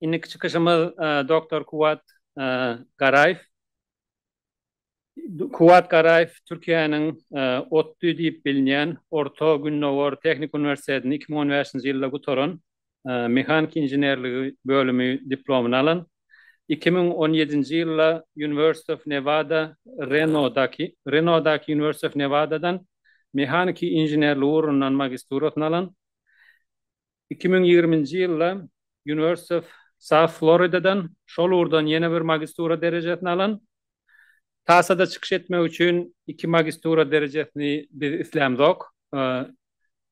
Indiki çykyşymyz doktor Kuwwat Garaýew. Kuwwat Garaýew Türkiýäniň ODTÜ diýip bilinýän Orta Gündogar Tehniki Uniwersitetini iki müň on bäşinji ýylda gutaran mehanik inženerligi bölümi diplomyny alan. Iki müň on ýedinji ýylda University of Nevada, Renodaky Renodaky University of Nevada-dan mehaniki inženerligi ugrundan magisturasyny alan. Iki müň ýigriminji ýylda University of South Florida-dan, şol ugurdan ýene bir magistura derejesini alan. TASA-da çykyş etmek üçin iki magistura derejesini biz islämzok.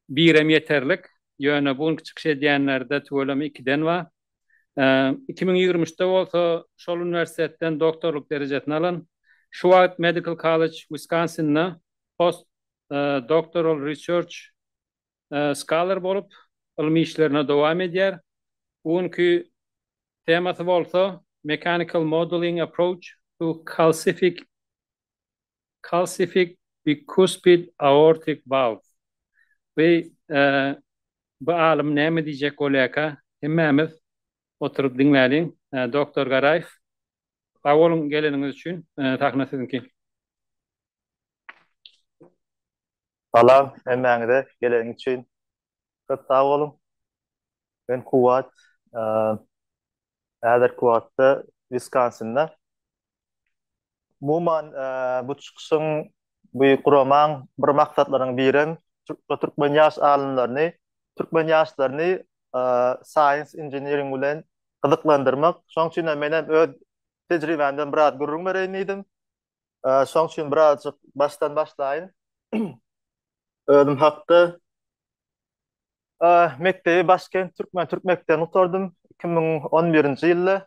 Birem ýeterlik. Ýöne bu günki çykyş edýänlerde tüweleme ikiden bar. Iki müň ýigrimi üçde bolsa şol uniwersitetden doktorlyk derejesini alan, şu wagt Medical College Wisconsin-de Post Doctoral Research skaler bolup, ylmy işlerini dowam edýär. Bu günki temasy bolsa Mechanical Modeling Approach to Calcific Calcific Bicuspid Aortic Valve. We bu alym näme diýjek bolýarka, hemmämiz oturyp diňläliň. Doktor Garaýew, sag boluň geleniňiz üçin. Sahna siziňki. Salam hemmäňize geleniň üçin köp sag boluň. Men Kuwwat häzirki wagtda Wiskonsinda. Umuman bu çykyşyň bu guramaň bir maksatlarynyň birem türkme türkmen ýaş alymlaryny türkmen ýaşlaryny science engineering bilen gyzyklandyrmak. Şoň üçinem menem öz tejribämden biraz gürrüň bereýin diýdim. Şoň üçin birazjyk başdan başlaýyn. Özüm hakda mekdebi Başkent türkmen türk mekdebini gutardym 2011-nji ýylda.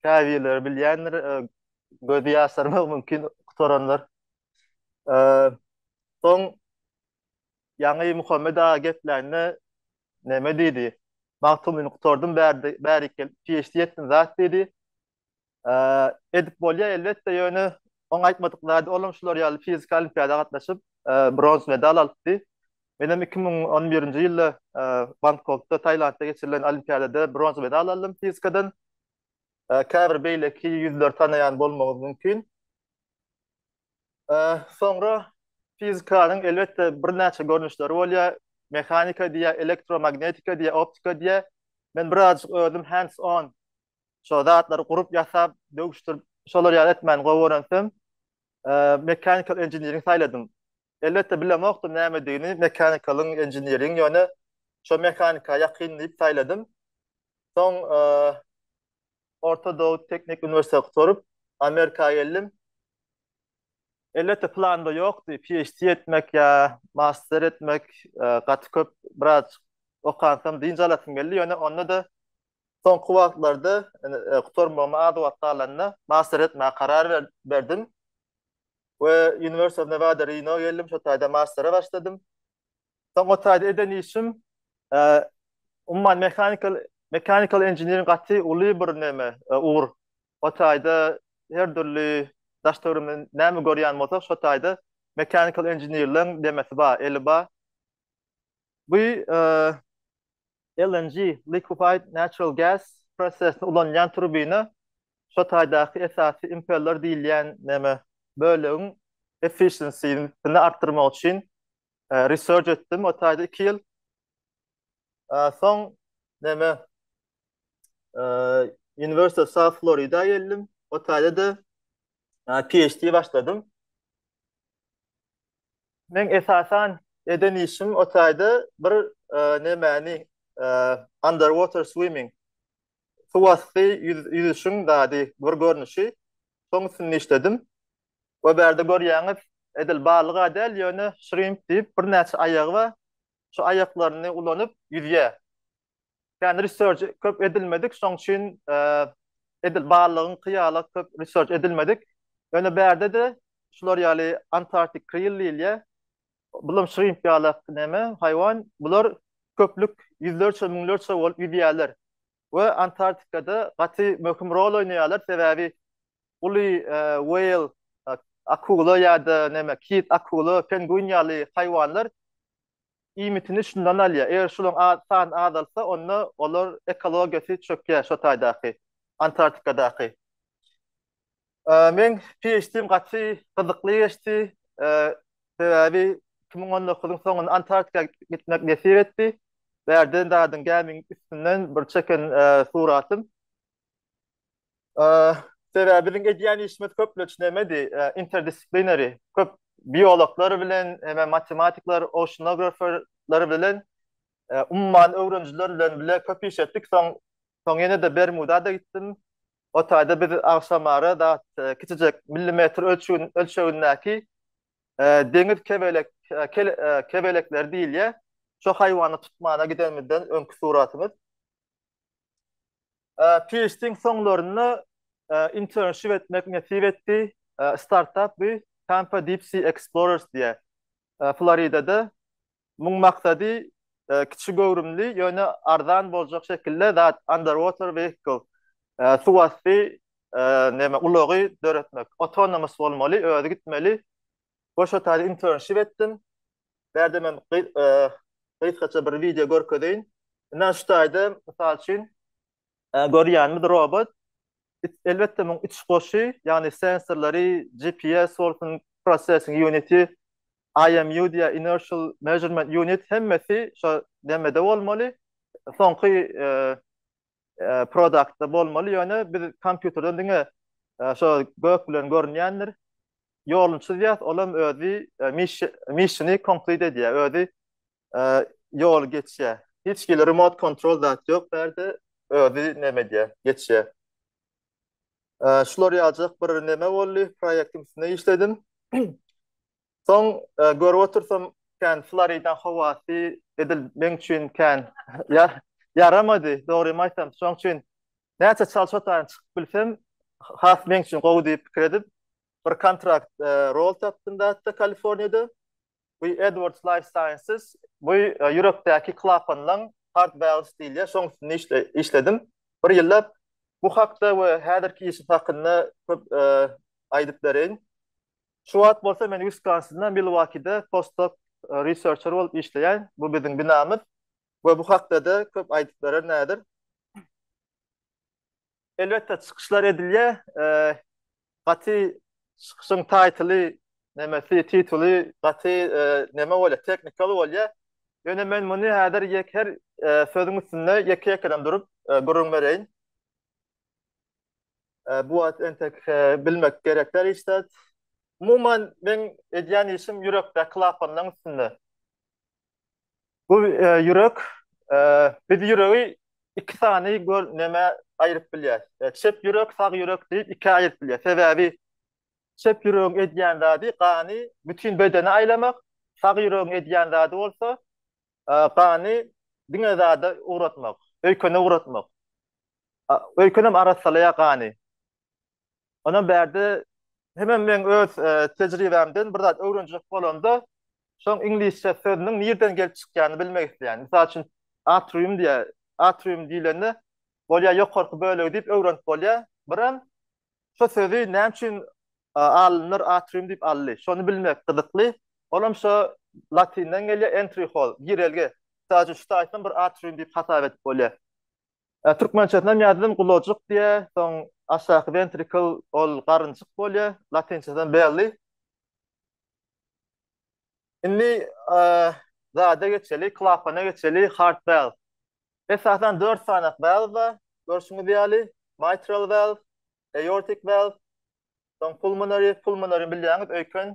Käbirleri bilýändir, gözi ýaşarmak mümkin gutaranlar. Soň ýaňy Muhammet aga gepläýnde näme diýdi? Magtymgulyny gutardym bärik gelip PHD etdim zat diýdi. Edip bolýar elbetde, ýöne oň aýtmadyk zady olam şular ýaly fiziki olimpiada gatnaşyp, bronz medal alypdy. Menem 2011-nji ýylda Bangkokda, Tailandda geçirilen olimpiadada bronz medal aldym fizikadan. Käbir beýleki ýüzleri tanaýan bolmagyňyz mümkin. Soňra fizikanyň elbetde birnäçe görnüşleri bolýar. Mehanika diýýär, elektromagnetika diýýär, optika diýýär. Men birazajyk özüm hands on şo zatlary gurup ýasap, döwüşdirip, şolar ýaly etmäni gowy görensem, mechanical engineering saýladym. Elbetde bilemokdym nämedigini, mechanikalyň, engineering, ýöne şo mehanika ýakyn diýip saýladym. Soň Orta Dowut Teknik Uniwersiteti gutaryp, Amerika geldim. Elbetde planda ýokdy, PHD etmek ýa master etmek, gaty köp, biraz okansam dynç alasym geldi, ýöne onda-da Soňky wagtlarda gutarmagyma az wagt galanda master etmäge karar berdim we University of Nevada Reno geldim, şo taýda mastere başladym. Soň o taýda eden işim umuman mechanical mechanical engineering gaty uly bir näme ugur. O taýda her dürli daş töwerimizde näme görýän bolsak, şo taýda mechanical engineerleriň demesi bar, eli bar. Bu LNG, Liquefied Natural Gas, prosesini ulanýan turbina şu taýdaky esasy impeller diýilýän näme bölegiň efficiency-sini artdyrmak üçin research etdim. O taýda iki ýyl soň näme University of South Florida geldim. O taýda-da PhD başladym. Meň esasan eden işim o taýda bir nemäni underwater swimming suwasty ýüzüşiň zady bir görnüşi şoň üstünde işledim we bärde görýäňiz edil balyga däl ýöne şrimp diýip birnäçe aýagy bar şu aýaklaryny ulanyp ýüzýär Yani research köp edilmedik, şoň üçin edil barlygyň kyýala köp research edilmedik. Ýöne bärde de şular ýaly Antarktik kril diýilýär. Bulam şrimp ýaly näme, haýwan. Bular köplük ýüzlerçe, müňlerçe bolup ýüzýärler. We Antarktikada gaty möhüm rol oýnaýarlar, sebäbi uly whale, akula ýa-da näme, kit, akula, penguin ýaly haýwanlar iýmitini şundan alýar. Eger şularyň a sany azalsa, onda olar ekologiýasy çökýär şo taýdaky, Antarktikadaky. E, men PHD-m gaty gyzykly geçdi. E, sebäbi iki müň on dokuzyň soňunda Antarktika gitmek nesip etdi. Bärden dadyň gämiň üstünden bir çeken e, suratym. Sebäbi biziň edýän işimiz köplenç nämedi? Interdisciplinary, köp biologlar bilen, hemem matematikler, oceanograferler bilen, umman öwrenijiler bilen bile köp iş etdik. Soň, soň ýene-de Bermuda-da gitdim. O taýda biz agşamara dat kiçijek millimetr ölçegin, ölçegindäki deňiz kebelek, kebelekleri diýilýär. Şo haýwany tutmana gidenimizden öňki suratymyz. PHD-iň soňlarynda internship etmek nesip etdi. Startap bu Tampa Deep Sea Explorers diýýär. Floridada muň maksady kiçi göwrümli, ýöne arzan boljak şekilde zat, underwater vehicle, suwasty näme ulagy döretmek. Autonomous bolmaly, özi gitmeli. Goşa taýda internship etdim. Bärde men gysgaça bir wideo görkezeýin. Indi şu taýda mysal üçin görýänimiz robot. Elbetde muň iç goşy, ýagny sensorlary, GPS bolsun, processing unity, IMU diýä inertial measurement unit hemmesi şo demede bolmaly. Soňky product bolmaly ýöne biz kompýuterden diňe şo gök bilen görünýändir ýoluny çyzýas olam özi missiony complete edýär özi ýol geçýär hiç hili remote control zat ýok bärde özi näme edýär geçýär şular ýaljak bir näme boldy proýektiň üstünde işledim Soň görüp otursam kän Florida howasy edil meň üçin kän ýaramady, dogrymy aýtsam. Şoň üçin näçe çalyş otagyna çykyp bilsem, has meň üçin gowy diýip pikir edip, bir kontrakt rol tapdym zatda Kaliforniýada. Bu Edwards Life Sciences, bu ýürekdäki klapanlaň heart valves diýilýär, şoň üstünde işledim bir ýyllap. Bu hakda we häzirki işim hakynda köp aýdyp bereýin. Şu wagt bolsa men Wiskonsinda, Milwokide postdoc researcher bolup işleýän. Bu biziň binamyz we bu hakda-da köp aýdyp berer Nädir. Elbetde çykyşlar edilýär. Gaty çykyşyň taýtyly, nemesi, tituly gaty neme bolýar, technical bolýar. Ýöne men muny häzir ýek her sözüň üstünde ýeke-ýekeden durup gürrüň bereýin. Bu wagt entek bilmek gerek däl hiç zat. Umuman men edýän işim ýürekdäki klapanlaryň üstünde. Bu ýürek biz ýüregi iki sany gör nämä aýryp bilýär. Çep ýürek, sag ýürek diýip ikä aýryp bilýär. Sebäbi çep ýüregiň edýän zady gany bütin bedene aýlamak, sag ýüregiň edýän zady bolsa gany diňe zada ugratmak, öýkene ugratmak. Öýkenem arassalaýar gany. Onam bärde hemem meň öz tejribämden bir zat öwrenjek bolanda, şoň iňlisçe sözüniň nirden gelip çykýanyny bilmek isleýän. Mysal üçin, atrium diýýär. Atrium diýlende, bolýar ýokarky bölegi diýip öwrenip bolýar. Birem Şu sözi näme üçin alymlar atrium diýip aldy? Şony bilmek gyzykly. Olam şo latynden gelýär, entry hall, girelge. Mysal üçin, şu taýpam bir atrium diýip hasap edip bolýar. Türkmençesini hem ýazdym, gulajyk diýýär, soň aşaky ventricle, ol garynjyk bolýar, latynçadan belli. Indi zada geçeli, klapana geçeli, heart valve. Esasan 4 sany valve bar. Görşüňiz ýaly, mitral valve, aortic valve, soň pulmonary, pulmonary bilýäňiz, öýken,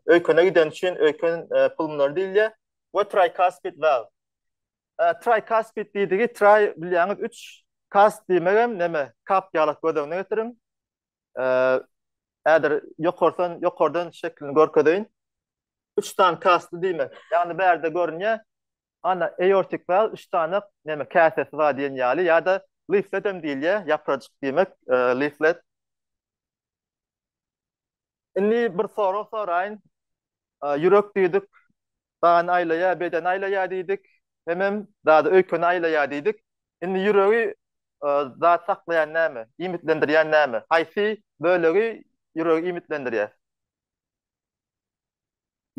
öýkene giden üçin öýken pulmonary diýilýär we tricuspid valve. Tricuspid diýdigi tri bilýäňiz 3, cusp diýmegem näme, kap ýalak göz öňüne getiriň. häzir ýokardan ýokardan şeklini görkezeýin. Üç sany kasty diýmek. Ýagny bärde görünýär. Ana aortic valve üç sany näme käsesi bar diýen ýaly ýa-da leaflet hem diýilýär, ýaprajyk diýmek, leaflet. Indi bir sorag soraýyn. Ýürek düýdük Dany aýlaýar, bedeni aýlaýar diýdik. Hemem zady öýkeni aýlaýar diýdik. Indi ýüregi zat saklaýan näme? Iýmitlendirýän näme? Haýsy bölegi ýüregi iýmitlendirýär?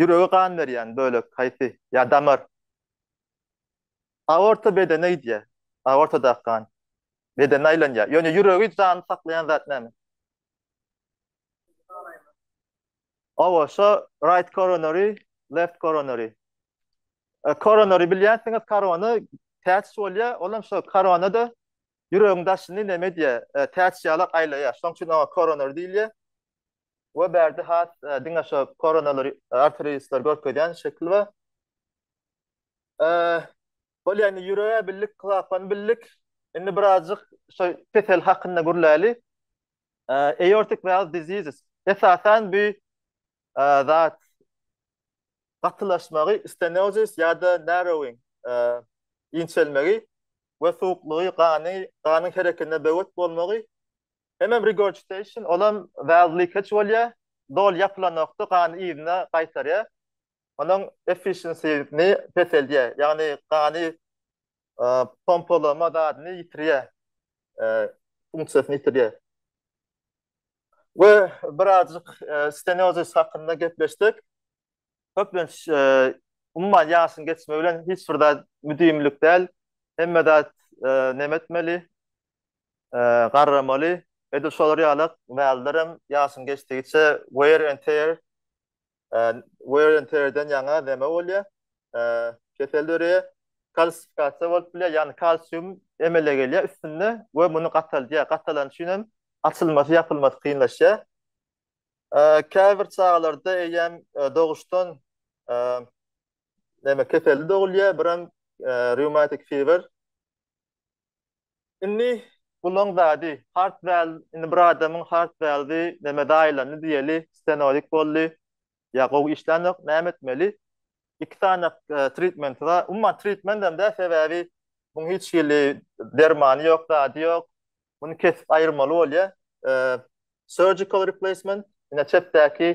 Ýürege gan berýän bölek haýsy? Ýa damar? Aorta bedene gidýär. Aortadaky gan bedene aýlanýar. Ýöne ýüregi janly saklaýan zat näme? Aorta, right coronary, left coronary. E, coronary bilýänsiňiz, korona täç bolýar, ol hem şo koronada ýüregiň daşyny näme diýýär, e, täç ýalak aýlaýar. Şoň üçin oňa coronary diýilýär. We bärde has e, diňe şo koronalar arteriýaslar görkezýän şekil we e, Bolýa indi ýürege bildik, klapany bildik. Indi birazjyk şu kesel hakynda gürläli. Aortic valve diseases. Esasan bu zat gatylaşmagy, stenosis ýa-da narrowing, inçelmegi we suwuklygy, gany, ganyň hereketine böwet bolmagy. Hemem regurgitation, olam valve leakage bolýa, doly ýapylanokda gany yzyna gaýtarýa. onuň efficiency-ni peseldýär, ýagny gany pompalama zadyny ýitirýär, funksiýasyny ýitirýär. We birazajyk steniozis hakynda gepleşsek, köplenç, umuman, ýaşyň geçmegi bilen hiç bir zat müdimilik däl, hemme zat näme etmeli, garramaly. Edil şolar ýalak, wällerem ýaşyň geçdigiçe wear and tear, wear and tear-den ýaňa näme bolýar? Kesel döreýär. Kalsifikasiýa bolup bilýär, ýagny kalsium emele gelýär üstünde we muny gataldýar. Gatalany üçin hem açylmasy, ýapylmasy kynlaşýar. Käbir çagalarda eýýäm doguşdan keseli dogulýar, bir hem rheumatic fever, Indi bulaň zady hard weld indi bir adamyň hard weldi neme daýylandy diýeli stenorik boldy ýa gowy işlänok näme etmeli iki sany tritmenti bar umuman tritment hem däl sebäbi muň hiç hili dermany ýok zady ýok muny kesip aýyrmaly bolýa surgical replacement ine çepdäki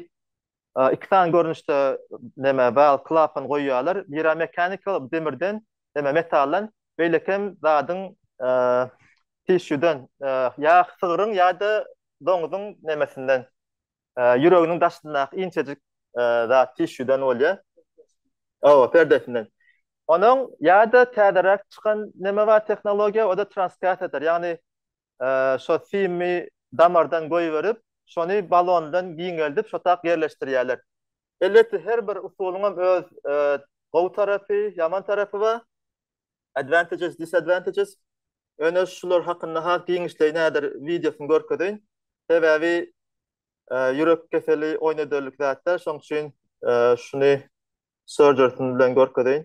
iki sany görnüşde näme val klapan goýýarlar. Biri mechanical demirden, näme metaldan, beýleki hem zadyň tissue-den, ýa sygryň ýa-da doňzuň nämesinden, ýüreginiň daşyndaky inçejik zat tissue-den bolýar. Hawa, perdesinden. Onuň ýa-da täzeräk çykan näme bar tehnologiýa, o-da transkatiator, ýagny şo simi damardan goýberip, şony balondan giňeldip şotak ýerleşdirýärler. Elbetde her bir usulyňam öz gowy tarapy, ýaman tarapy bar, advantages, disadvantages. Ýöne şular hakynda has giňişleýin häzir wideosyny görkezeýin. Sebäbi ýürek keseli oýnaderlik zat däl, şonuň üçin şuny surgery-sini bilen görkezeýin.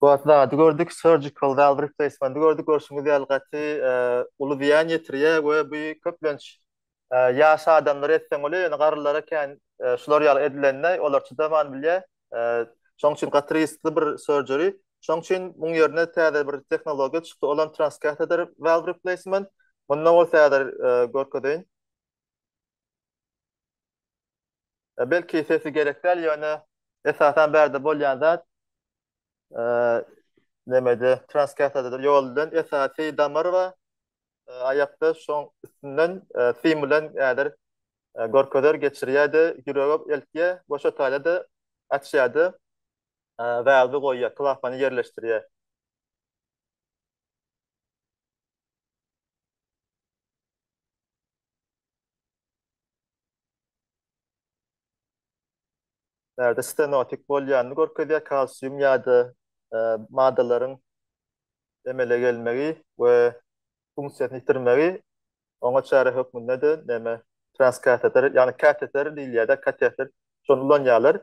Wagt zady gördük, surgical valve replacement-i gördük. Görşüňiz ýaly gaty uly zyýan ýetirýär we bu köplenç ýaş adamlara etseň bolýar, ýöne garrylara kän şular ýaly edilende olar çydaman bilýär. Şonuň üçin gaty riskli bir surgery. Şonuň üçin muň ýerine täze bir tehnologiýa çykdy, olam transcatheter valve replacement. Munda bolsa häzir görkezeýin. Belki sesi gerek däl ýöne esasan bärde bolýan zat nemede transkersada ýol bilen esasy damar we aýakda şoň üstünden sim bilen ädir görkezer geçirýärdi ýürege eltýä we şo taýda açýardy valwy goýýar klapany ýerleşdirýär. Nerede stenotik bolýanyny görkezýär, kalsium ýa-da maddalaryň emele gelmegi we funksiýasyny ýitirmegi, oňa çäre hökmünde-de näme, transkateter, ýagny kateter diýilýär-de, kateter, şony ulanýarlar.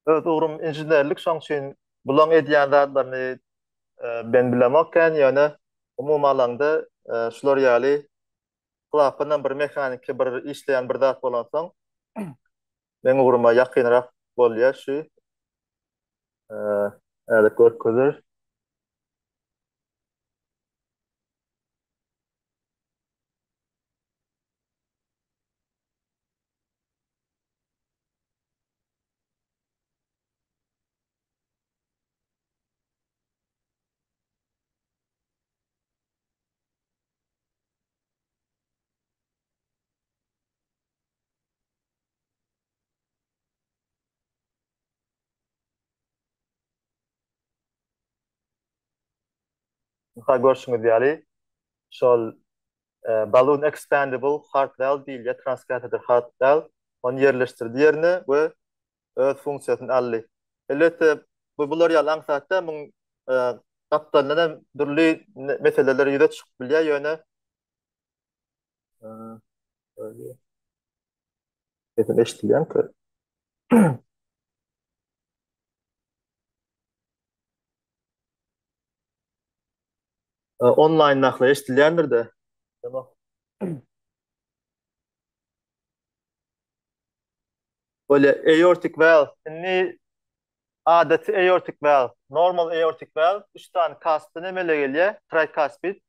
Öz ugrum inženerlik, şoň üçin bulaň edýän zatlaryny men bilemok ekän, ýöne umumy alanda şular ýaly klapanam bir mehaniki bir işleýän bir zat bolansoň, meň ugruma ýakynrak bolýar şu Ädik görkezer. Mysal görşüňiz ýaly, şol Balloon Expandable Hard Valve diýilýär, transcatheter hard valve. Ony ýerleşdirdi ýerine we öz funksiýasyny aldy. Elbetde, bu bular ýaly aňsat däl, muň gapdalyndan hem dürli meseleler ýüze çykyp bilýär, ýöne Sesim eşidilýän ki. Online nakla eşidilýändir de. Tamam. Böyle aortic valve. Şimdi adaty aortic valve, normal aortic valve, üç tane kasbyny emele gelýär, tricuspid,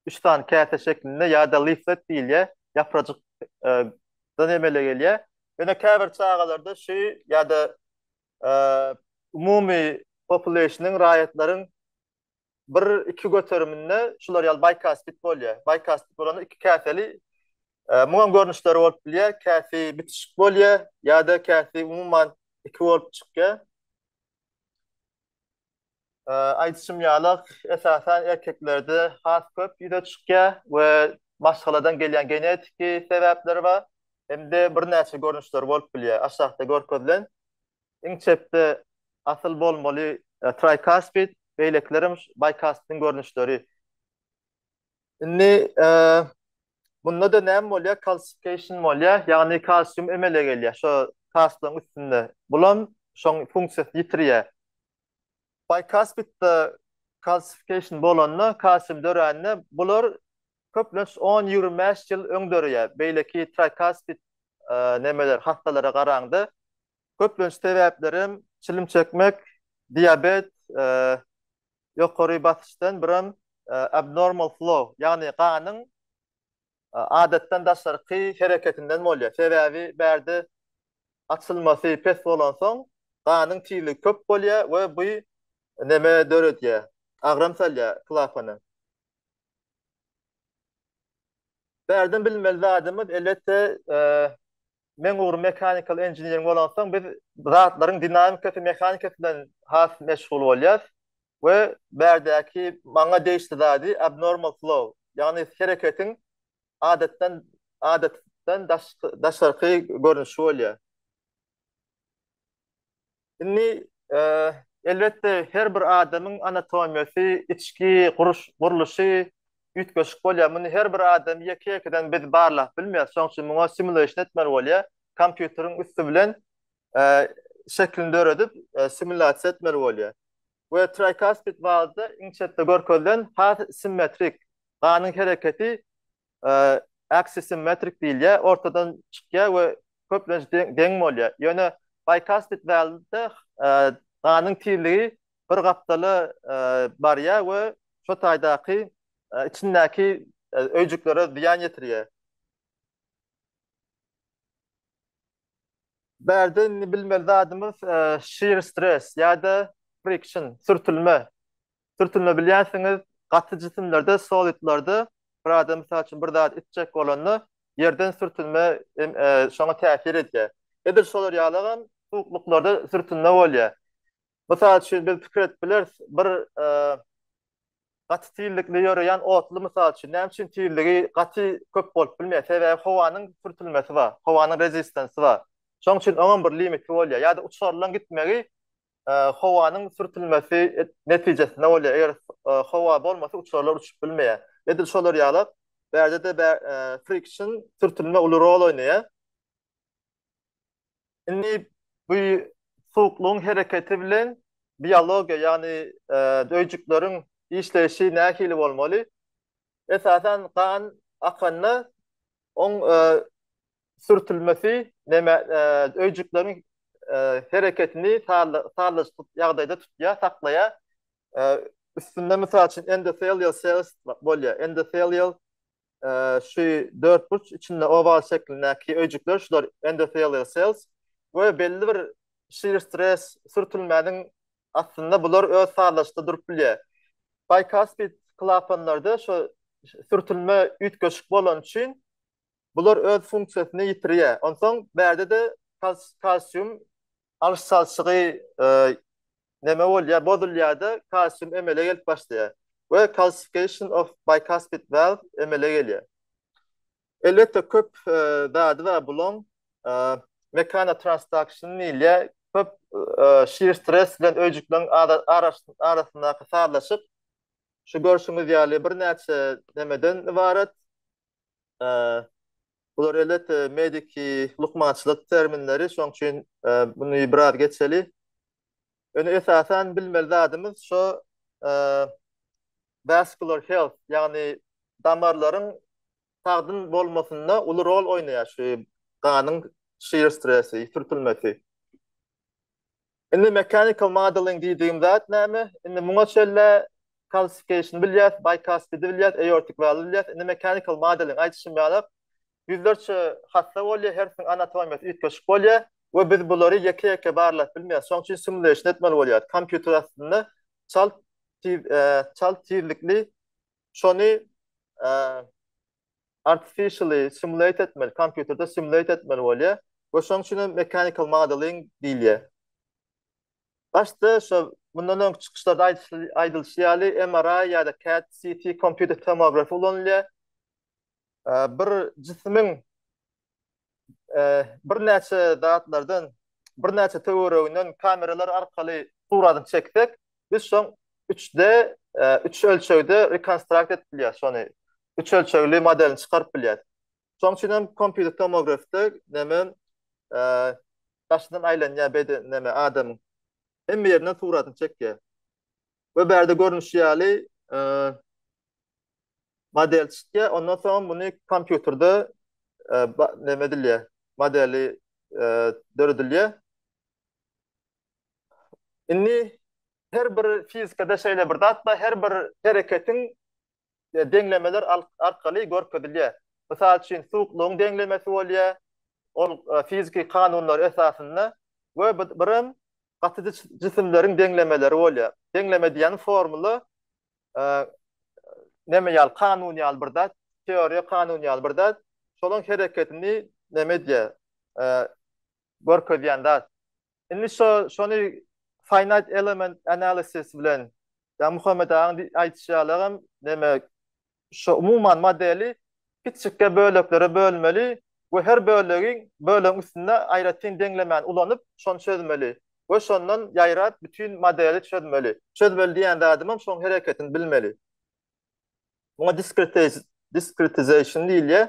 üç sany käse şeklinde ýa-da leaflet diýilýär, ýaprajyk dan emele gelýär. Ýöne käbir çagalarda şu ýa-da umumy populýasyonyň, raýatlaryň bir, iki göteriminde şular ýaly baýkastit bolýar. Baýkastit bolanda iki käseli, muňam görnüşleri bolup bilýär, käsi bitişik bolýar ýa-da käsi umuman iki bolup çykýar. Aýdyşym ýaly, esasan erkeklerde has köp ýüze çykýar we maşgaladan gelýän genetiki sebäpler bar. Hem-de birnäçe görnüşleri bolup bilýär. Aşakda görkezilen iň çepde asyl bolmaly trikaspid, beýlekilerem şu bikaspidiň görnüşleri. Indi bunda-da näme bolýar? Kalsifikasiýa bolýar, ýagny kalsium emele gelýär şo kastyň üstünde. Bulam şoň funksiýasyny ýitirýär. Bikaspitde kalsifikasiýa bolanda, kalsium dörände bular köplenç on-ýigrimi bäş ýyl öň döreýär. Beýleki trikaspit nemeler hassalara garaňda. Köplenç sebäplerem çilim çekmek, diabet, ýokary basyşdan biram abnormal flow, ýagny ganyň adatdan daşarky hereketinden bolýar. Sebäbi bärde açylmasy pes bolansoň, ganyň tizligi köp bolýar we bu neme döredýär? Agram salýar klapana. Bärden bilmeli zadymyz, elbetde, Meň ugrum mechanical engineering bolansoň biz zatlaryň dinamikasy, mehanikasy bilen has meşgul bolýas we bärdäki maňa degişli zady abnormal flow, ýagny hereketiň adatdan adatdan daşarky görnüşi bolýar. Indi, elbetde, her bir adamyň anatomiýasy, içki gurluşy üýtgeşik bolýar. Muny her bir adamy ýeke-ýekeden biz barlap bilmeýäris. Şonuň üçin muňa simulation etmeli bolýar. Kompýuteriň üsti bilen şeklini döredip, simulýasiýa etmeli bolýar. We trikaspid wazda iň çetde görkezilen has simmetrik, ganyň hereketi aksisimmetrik diýilýär, ortadan çykýar we köplenç deň bolýar. Ýöne bicuspid wälnde ganyň tizligi bir gapdala barýar we şo taýdaky içindäki öýjüklere zyýan ýetirýär. Bärde indi bilmeli zadymyz shear stress ýa-da friction, sürtülme. Sürtünme bilýänsiňiz, gaty jisimlerde, solidlerde bir adam mysal üçin bir zat itjek bolanda ýerden sürtünme şoňa täsir edýär. Edil şolar ýalygam suwuklyklarda sürtünme bolýar. Mysal üçin biz pikir edip bileris, bir gaty tizlikli ýöreýän otly mysal üçin näme üçin tizligi gaty köp bolup bilmeýär? Sebäbi howanyň sürtülmesi bar, howanyň rezistansy bar. Şonuň üçin oňam bir limiti bolýar. Ýa-da uçarylaň gitmegi howanyň sürtülmesi netijesinde bolýar. Eger howa bolmasa uçarlar uçup bilmeýär. Edil şolar ýaly bärde-de friction, sürtülme uly rol oýnaýar. Indi bu suwuklygyň hereketi bilen biologiýa, ýagny öýjükleriň işleýşi nähili bolmaly? Esasan gan akanda oň sürtülmesi neme öýjükleriň hereketini sazlaşykly ýagdaýda tutýar, saklaýar. Üstünde mysal üçin endotelial cells bolýar. Endotelial şu dörtburç içinde owal şeklindäki öýjükler şular endotelial cells we belli bir şir stres sürtülmäniň astynda bular öz sazlaşykda durup bilýär. Bicuspid klapanlarda şu sürtülme üýtgeşik bolany üçin Bular öz funksiýasyny ýitirýär. Onsoň bärde-de kalsium alyş çalşygy näme bolýar, bozulýar-da, kalsium emele gelip başlaýar we calcification of bicuspid valve emele gelýär. Elbetde köp zady bar bulaň, mekanotransduction diýilýär, köp şir stres bilen öýjükleriň arasyndaky sazlaşyk şu görşüňiz ýaly birnäçe nämeden ybarat, Bular elbetde mediki lukmançylyk terminleri, şoň üçin muny biraz geçeli. Ýöne esasan bilmeli zadymyz şo vascular health, ýagny damarlaryň sagdyn bolmasynda uly rol oýnaýar şu ganyň şir stresi, süpürmesi. Indi mechanical modeling diýdigim zat näme? Indi muňa çenlä calcification bilýäs, bicuspid bilýäs, aortic valve bilýäs. Indi mechanical modeling aýdyşym ýalak, ýüzlerçe hassa bolýar, hersiniň anatomiýasy üýtgeşik bolýar we biz bulary ýeke-ýeke barlap bilmeýäs. Şonuň üçin simulation etmeli bolýar. Kompýuter astynda çalt tiz, çalt tizlikli şony artificially simulate etmeli, kompýuterde simulate etmeli bolýar we şonuň üçin hem mechanical modeling diýilýär. Başda şo mundan öňki çykyşlarda aýdylyşy ýaly MRI ýa-da CAD-CT kompýuter tomografiýa ulanylýar. Bir jisimiň birnäçe zatlardan, birnäçe töwereginden kameralar arkaly suratyny çeksek, biz şoň üç-D, üç ölçegde rekonstrukt edip bilýäris, şony üç ölçegli modelini çykaryp bilýäris. Şoň üçin hem kompýuter tomografda näme, daşyndan aýlanýar beden näme adamyň hemme ýerinden suratyny çekýär. we bärde görnüşi ýaly model çykýar, ondan soň muny kompýuterde näme edilýär, modeli döredilýär. Indi her bir fizikada şeýle bir zat bar, her bir hereketiň deňlemeler arkaly görkezilýär. Mysal üçin, suwuklygyň deňlemesi bolýar, ol fiziki kanunlar esasynda we birem gaty jisimleriň deňlemeleri bolýar. Deňleme diýýän formula neme ýaly, kanun ýaly bir zat, teoriýa kanun ýaly bir zat, şolaň hereketini neme edýär, görkezýän zat. Indi şo şony finite element analysis bilen ýa Muhammet agaň aýdyşy ýalam neme şo umuman modeli kiçikge böleklere bölmeli we her bölegiň bölegiň üstünde aýratyn deňlemäni ulanyp şony çözmeli we şondan ýaýrap bütin modeli çözmeli. Çözmeli diýýän zadymam şoň hereketini bilmeli. Muňa diskretization diýilýär.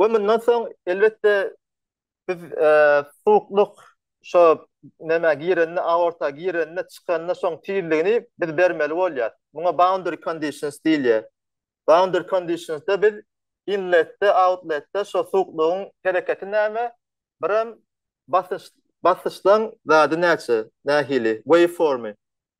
We mundan soň elbetde biz suwuklyk şo nämä girende aorta girende çykanda şoň tizligini biz bermeli bolýar. Muňa boundary conditions diýilýär. Boundary conditionsda biz inletde outletde şo suwuklygyň hereketi näme biram basyş basyşlaň zady näçe nähili waveformy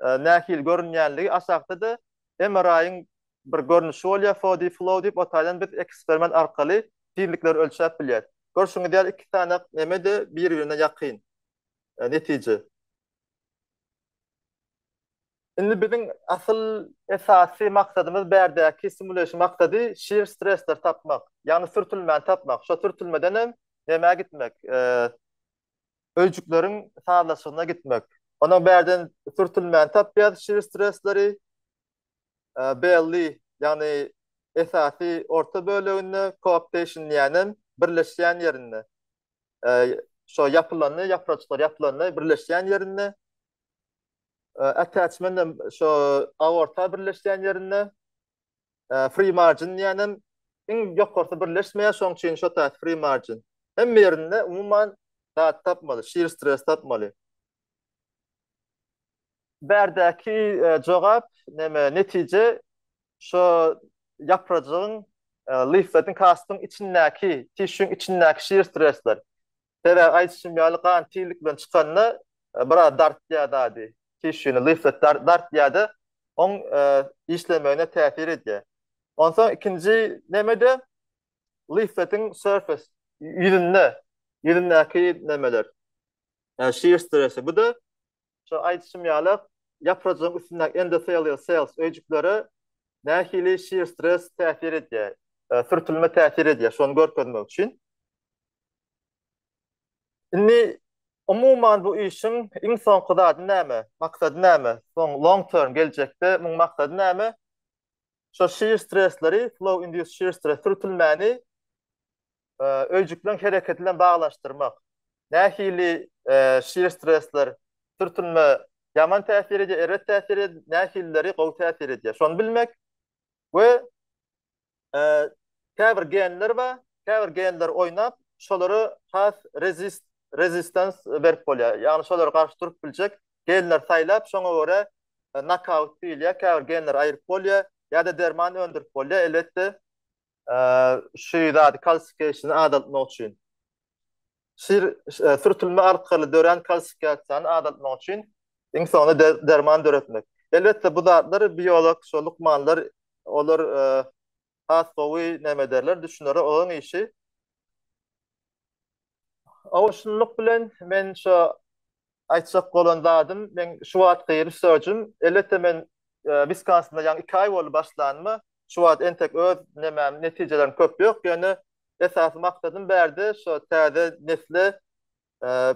nähili görünýänligi aşakda-da MRI-iň bir görnüşi bolýar, Fody flow diýip, o taýdan biz eksperiment arkaly tizlikleri ölçäp bilýäs. Görşüňiz ýaly iki sany neme-de bir-birine ýakyn netije. Indi biziň asyl esasy maksadymyz bärdäki simulation maksady shear stressleri tapmak, ýagny sürtülmäni tapmak. Şo sürtülmeden hem nämä gitmek, öýjükleriň sazlaşygyna gitmek. Onuň bärden sürtülmäni tapýarys, şir stresleri, belli, ýagny esasy orta böleginde, coaptation diýýänem birleşýän ýerinde. Şo ýapylanda, ýapraçyklar ýapylanda birleşýän ýerinde, attachment hem şo aorta birleşýän ýerinde, free margin diýenem iň ýokarsy birleşmeýär, şoň üçin şo taýda free margin. Hemme ýerinde umuman zat tapmaly, shear stress tapmaly. Bärdäki jogap näme netije şo ýaprajygyň leafletiň kastyň içindäki, tişüň içindäki shear stressler. Sebäbi aýdyşym ýaly gan tizlik bilen çykanda biraz dartýar dady, tişini, liflet dartýar-da, oň işlemegine täsir edýär. Onsoň ikinji neme-de lifletiň surface, ýüzünde, ýüzündäki nemeler, shear stress-i. Bu-da Şu aýdyşym ýaly, ýaprajygyň üstündäki endotelial cells öýjüklere nähili shear stress täsir edýär, sürtülme täsir edýär, şony görkezmek üçin. Indi umuman bu işiň iň soňky zady näme, maksady näme? Soň long term geljekde muň maksady näme? Şo shear stressleri, flow induced shear stress sürtülmäni öýjükleň hereketi bilen baglanyşdyrmak. Nähili şir stresler, sürtünme ýaman täsir edýär, erbet täsir edýär, nähilileri gowy täsir edýär. Şony bilmek we käbir genler bar, käbir genler oýnap, şolara has rezist, resistans berip bolýar. Ýagny şolara garşy durup biljek genleri saýlap, şoňa görä nokaut diýilýär, käbir genleri aýryp bolýar ýa-da derman öndürip bolýar. Elbetde, şu zady kalsifikasiýany azaltmak üçin. Şir sürtülme arkaly dörän kalsifikasiýany azaltmak üçin iň soňunda derman döretmek. Elbetde bu zatlar biolog, şo lukmanlar olar has gowy näme ederler, düşünerler, olaryň işi. Owaçlylyk bilen men şo aýtjak bolan zadym, meň şu wagtky research-üm, elbetde men Wiskansynda ýaňy iki aý boldy başlanyma, şu wagt entek öz nemäm, netijelerim köp ýok, ýöne esasy maksadym bärde şo täze nesle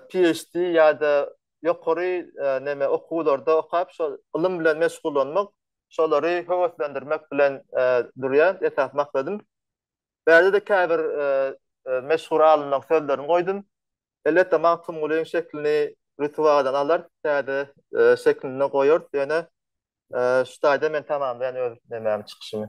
PHD ýa-da ýokary neme okuwlarda okap, şo ylym bilen meşgullanmak, şolary höweslendirmek bilen durýar esasy maksadym. Bärde-de käbir meşhur alymlaryň sözlerini goýdum. Elbetde, Magtymgulynyň şeklini Rütüwadan alar, täze şeklinde goýarys. Ýöne şu taýda men tamamlaýan öz nemämi, çykyşymy.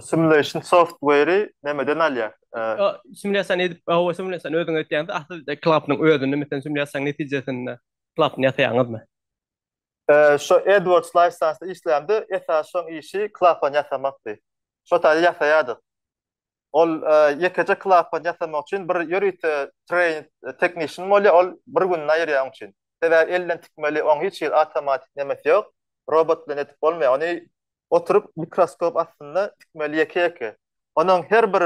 Simulation software-i nämeden alýar? Simulýasiýa edip, hawa simulýasiýany özüňiz etýäňiz, aslynda klapynyň özünde, meselem, simulýasiýanyň netijesinde klapyny ýasaýaňyzmy? Şu AdWords License-da işlämde esasy şoň işi klapany ýasamakdy. Şo taýda ýasaýardyk. Ol ýekeje klapany ýasamak üçin bir ýörite train technician bolýar, ol bir gününi aýyrýar oň üçin. Sebäbi elden tikmeli, oň hiç hili awtomatik nemesi ýok. Robot bilen edip bolmaýar. Ony oturyp mikroskop astynda tikmeli ýeke ýeke. Onuň her bir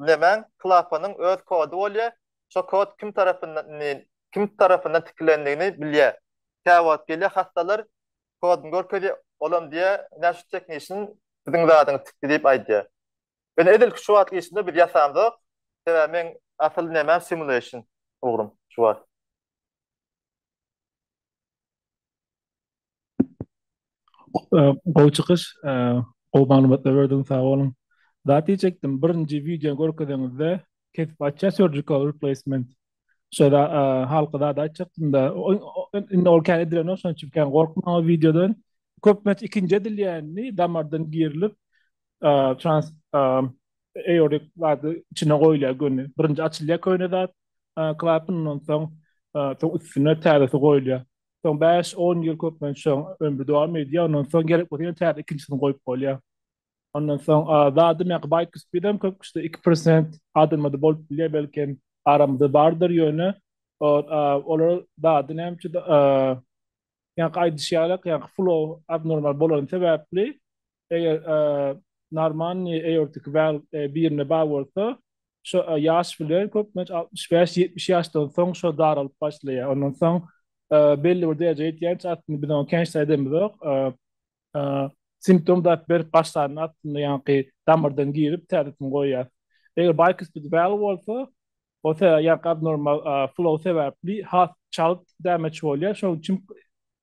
nämäň klapanyň öz kody bolýar, şo kod kim tarapyndan kim tarapyndan tikilendigini bilýär. Käwagt gelýär hassalar kodyny görkezýär, olam diýýär ine şu teknişin siziň zadyňyzy tikdi diýip aýdýar. Ýöne edilki şu wagt işinde biz ýasamzok, sebäbi meň asyl nämäm simulation ugrym şu wagt. Gowy çykyş. Gowy maglumatlar berdiň sag boluň. Zat diýjekdim, birinji wideony görkezeňizde kesip açýar surgical replacement. Şo halky zat aýtjakdym-da, indi ol kän edilenok şonuň üçin kän gorkmaň o wideodan. Köplenç ikinji edilýänini damardan girilip trans aortic zady içine goýulýar göni. Birinji açylýar köne zat, klapan ondan soň üstüne täzesi goýulýar. Soň bäş, on ýyl köplenç şoň ömri dowam edýär. Ondan soň gerek bolsa ýene täze ikinjisini goýup bolýar. Ondan soň zadam ýa-da baýk üstünem köp kişide iki prosent adamlarda bolup bilýär, belkem aramyzda bardyr ýöne olar zady näme üçindir ýa-da aýdyşýarlar, ýa-da flow abnormal bolany sebäpli eger normanny aortic valve birine bar bolsa, şu ýaş bilen köplenç 65-70 ýaşdan soň şu daralyp başlaýar. Ondan soň belli bir derejä ýetýänçä aslynda biz oňa kençlik edemizok. Simptom daýyp berip başlanda aslynda ýaňky damardan girip täzetini goýýar. Eger bicuspid valve bolsa, o sebäbi ýaňky abnormal flow sebäpli has çalt damage bolýar. Şonuň üçin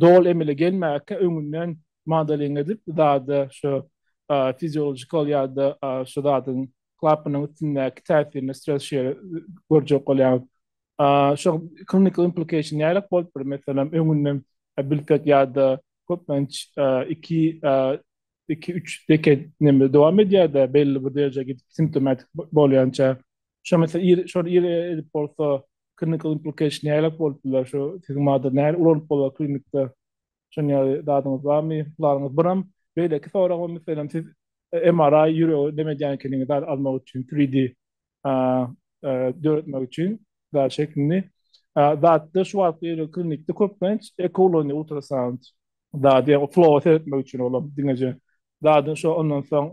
doly emele gelmäge öňünden modeling edip zada şu fiziologikal ýa-da şu zadyň klapanyň üstündäki täsirini stres şeýle görjek bolýar. Şu klinikal implikeşin nähili bolup biler? Meselem, öňünden bilsek ýa-da köplenç iki iki üç deket dowam edýär-de belli bir derejä gidip simptomatik bolýança. Şo mesele ir şor ir edip bolsa clinical implication nälelik bolup biler şu siziň mader näle ulanyp bolar klinikde şon ýaly dadyňyz barmy plaňyňyz biram beýleki soragym meselem siz MRI ýüregi neme edýän ekeniňiz zat almak üçin 3D döretmek üçin zat şeklini zatda şu wagt ýeri klinikde köplenç eko ulanyp ultrasound zady ýa flow seretmek üçin olam diňeje zadyň şo ondan soň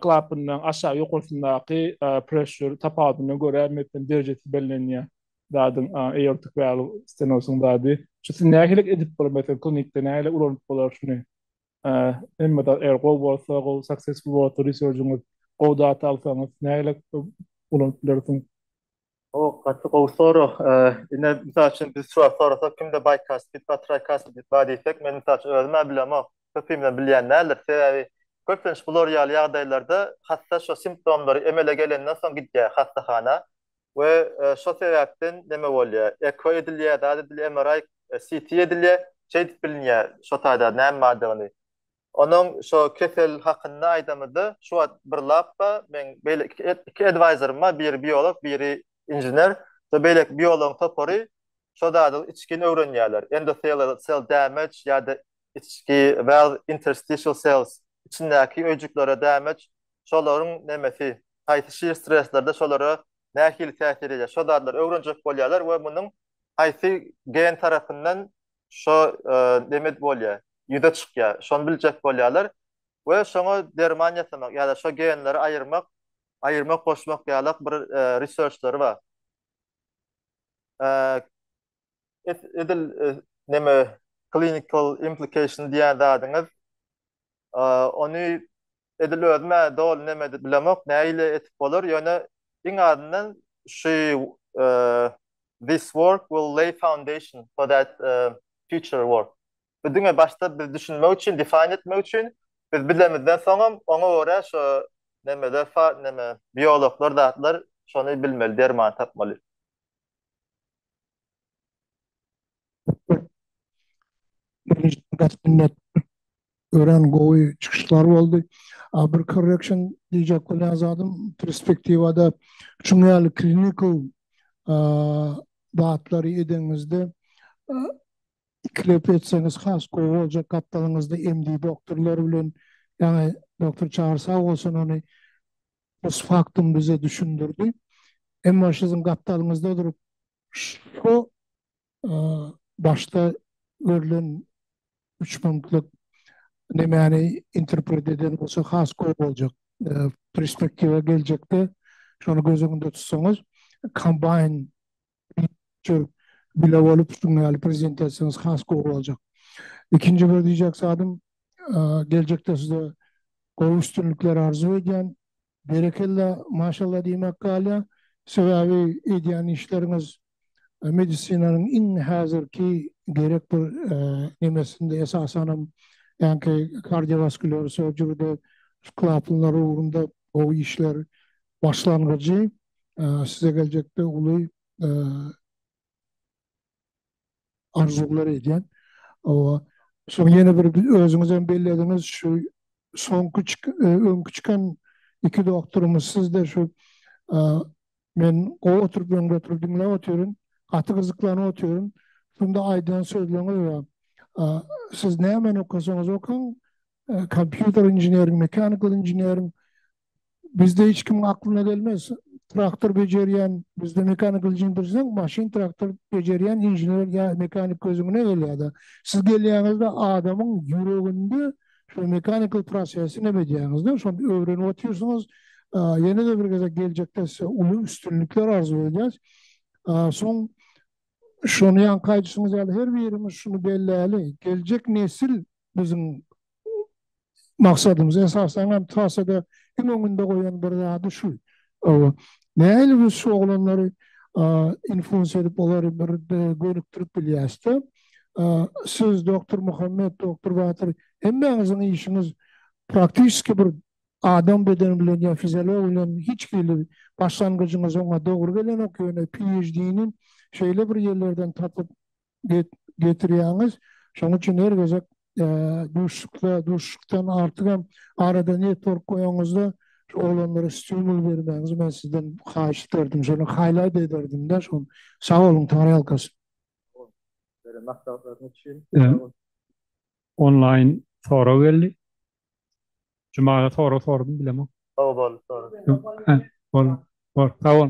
Klapanyň aşak ýokarsyndaky pressure tapawudyna görä mepen derejesi bellenýär. Zadyň eortik valw stenosyň zady. Şu siz nähili edip bolar meselem klinikde nähili ulanyp bolar şuny. Hemme zat eger gowy bolsa gowy successful bolsa research-yňyz gowy data alsaňyz nähili ulanyp bilersiň. O gaty gowy sorag. Ine, mysal üçin biz şu wagt sorasak kimde baýkast, bit bar, traýkast, bit bar diýsek, men mysal üçin özüm-ä bilemok, köpimizem bilýän däldir. Sebäbi köplenç bular ýaly ýagdaýlarda hassa şo simptomlary emele gelenden soň gidýär hassahana we şo sebäpden neme bolýar, eko edilýär, zat edilýär, MRI, CT edilýär, şeýdip bilinýär şo taýda näme bardygyny. Onuň şo kesel hakynda aýdamyda şu wagt bir lap bar, meň beýle iki edwaýzorym bar, biri biolog, biri injener. Şo beýleki biologyň topary şo zady içgin öwrenýärler, endothelial cell damage ýa-da içki well interstitial cells, içindäki öýjüklere damage, şolaryň nemesi, haýsy şir streslerde şolara nähili täsir edýär, şo zadlary öwrenjek bolýarlar we munuň haýsy gen tarapyndan şo neme bolýa, ýüze çykýa, şony biljek bolýalar we şoňa derman ýasamak ýa-da şo genleri aýyrmak, aýyrmak, goşmak ýalak bir research-lary bar. Edil neme, clinical implication diýýän zadyňyz Ony edil özüm-ä doly nemedi bilemok, näile etip bolar, ýöne iň azyndan şu This work will lay foundation for that future work. Bu diňe başda biz düşünmek üçin, define etmek üçin, biz bilemizden soňam oňa görä şo nemeler, neme, biologlar, zatlar şony bilmeli, dermany tapmaly. Gaspinnet ören gowy çykyşlar boldy. A bir correction diýjek bolýan zadym perspektiwada şuň ýaly clinical zatlary edeňizde ikilep etseňiz has gowy boljak gapdalyňyzda MD doktorlar bilen ýaňy doktor Çary sag bolsun ony pos faktum bize düşündirdi. Emma şiziň gapdalyňyzda durup şu başda görlen üç punktlyk nemäni interpret eden bolsa has gowy boljak. Perspektiwa geljekde şony göz öňünde tutsaňyz, kombaýn bile bolup şunuň ýaly prezente etseňiz has gowy boljak. Ikinji bir diýjek zadym, geljekde size gowy üstünlikler arzuw edýän. Berekella maşallah diýmek galýa sebäbi edýän işleriňiz medisinanyň iň häzirki gerek bir nemesinde esasanam ýanki kardiowaskulýar surgeryde klapanlar ugrunda gowy işler başlangyjy size geljekde uly arzuwlar edýän. Hawa, soň ýene bir özüňizem bellediňiz, şu soňky öňki çykan iki doktorymyz sizde şu men gowy oturyp öňde oturyp diňläp otyryn, gaty gyzyklanyp otyryn. Şunda aýdan sözleriňiz bar. Siz nämeni okasaňyz okaň, kompýuter inženeriň, mechanical inženeriň, Bizde hiç kimiň aklyna gelmez. Traktor bejerýän, bizde mekanik ilçin bilseň, maşyn, traktor bejerýän inžener ýa mekanik gözüňne gelýär-de. Siz gelýäňiz-de adamyň ýüreginde şu mekanikal prosesi neme edýäňiz-de, şony öwrenip otyrsyňyz. Ýene-de bir gezek geljekde size uly üstünlikler arzuw edýäs. Soň şony ýaňky aýdyşyňyz ýaly her birimiz şuny belläli, geljek nesil biziň maksadymyz esasan hem trasada iň öňünde goýan bir zady şu. Nähili biz şu oglanlary influence edip olary bir gönükdirip bilýäsde. Siz Doktor Muhammet, Doktor Batyr hemmäňiziň işiňiz praktiski bir adam bedeni bilen ýa fiziologiýa bilen hiç hili başlangyjyňyz oňa dogry gelenok ýöne PHD-ni şeýle bir ýerlerden tapyp getirýäňiz. Şonuň üçin her gezek duşuşykda, duşuşykdan artyk hem arada network goýanyňyzda şu oglanlara stimul bermäňizi men sizden haýyş ederdim. Şony haýlat ederdim-de şony. Sag boluň, taňryýalkasyn. Beren maslahatlaryňyz üçin. Onlaýn sorag geldi. Jumala sorag sordum, bilemok. Sag bol. Bor, bor. Sag bol.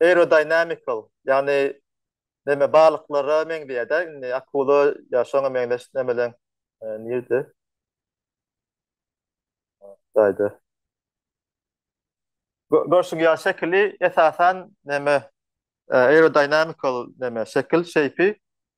aerodynamical, ýagny näme balyklara meňzeýär-de, indi akula ýa şoňa meňzeş nämeler nirede? Gaýda. Görşüň ýaly şekili esasan näme aerodynamical näme şekil, şeýpi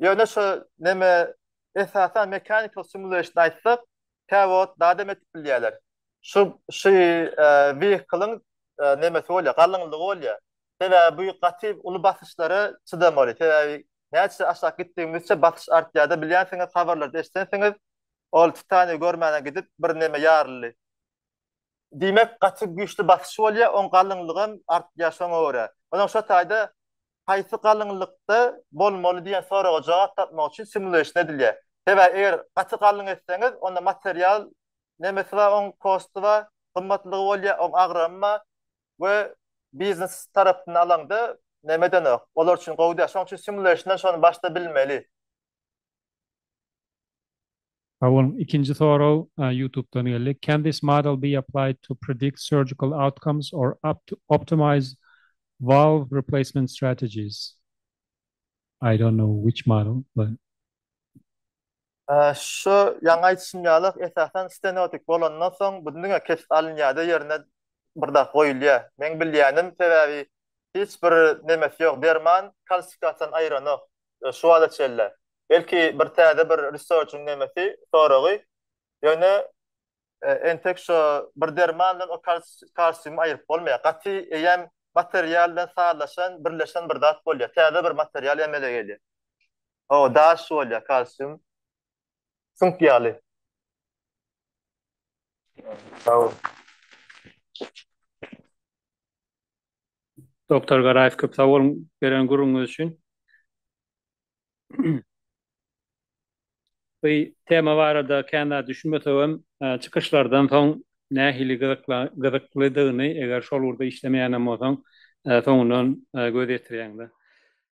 Ýöne şu neme esasan mechanical simulation aýtsak tä wagt daha dem etip bilýärler. Şu şu vehicle-yň nemesi bolýar, galyňlygy bolýar. Sebäbi bu gaty uly basyşlara çydamaly. Sebäbi näçe aşak gitdigimizçe basyş artýarda bilýänsiňiz habarlarda eşdensiňiz ol titaniýa görmäne gidip bir neme ýaryldy. Diýmek, gaty güýçli basyş bolýar, oň galyňlygam artýar şoňa görä. Onam şo taýda haýsy galyňlykda bolmaly diýen soraga jogap tapmak üçin simulation edilýär. Sebäbi eger gaty galyň etseňiz, onda material nemesi bar, oň kosty bar, gymmatlygy bolýar, oň agramy bar we biznes tarapyndan alaňda, neme edenok, olar üçin gowy däl. Şonuň üçin simulation-dan şony başda bilmeli. Sag boluň. Ikinji sorag Youtube-dan geldi. Can this model be applied to predict surgical outcomes or optimize valve replacement strategies? I don't know which model but. Şu ýaňy aýdyşym ýaly, esasan stenotik bolandan soň bu diňe kesip alynýar-da ýerine bir zat goýulýar. Meň bilýänim, sebäbi hiç bir nemesi ýok, derman kalsifikasiýany aýyranok. şu wagta çenli. Belki bir täze bir research-yň nemesi, soragy. Ýöne entek şu bir derman bilen o kalsiumy aýyryp bolmaýar. Gaty eýýäm material bilen sazlaşan, birleşen bir zat bolýar. Täze bir material emele gelýär. O daş bolýar kalsium. Süňk ýaly. Sag bol. Doktor Garaýew köp sag boluň beren gürrüňiňiz üçin. Bu tema barada kän zat düşünmesegem, çykyşlardan soň nähili gyzyklydygyny, eger şol ugurda işlemeýän hem bolsaň, soňundan göz ýetirýäňdä.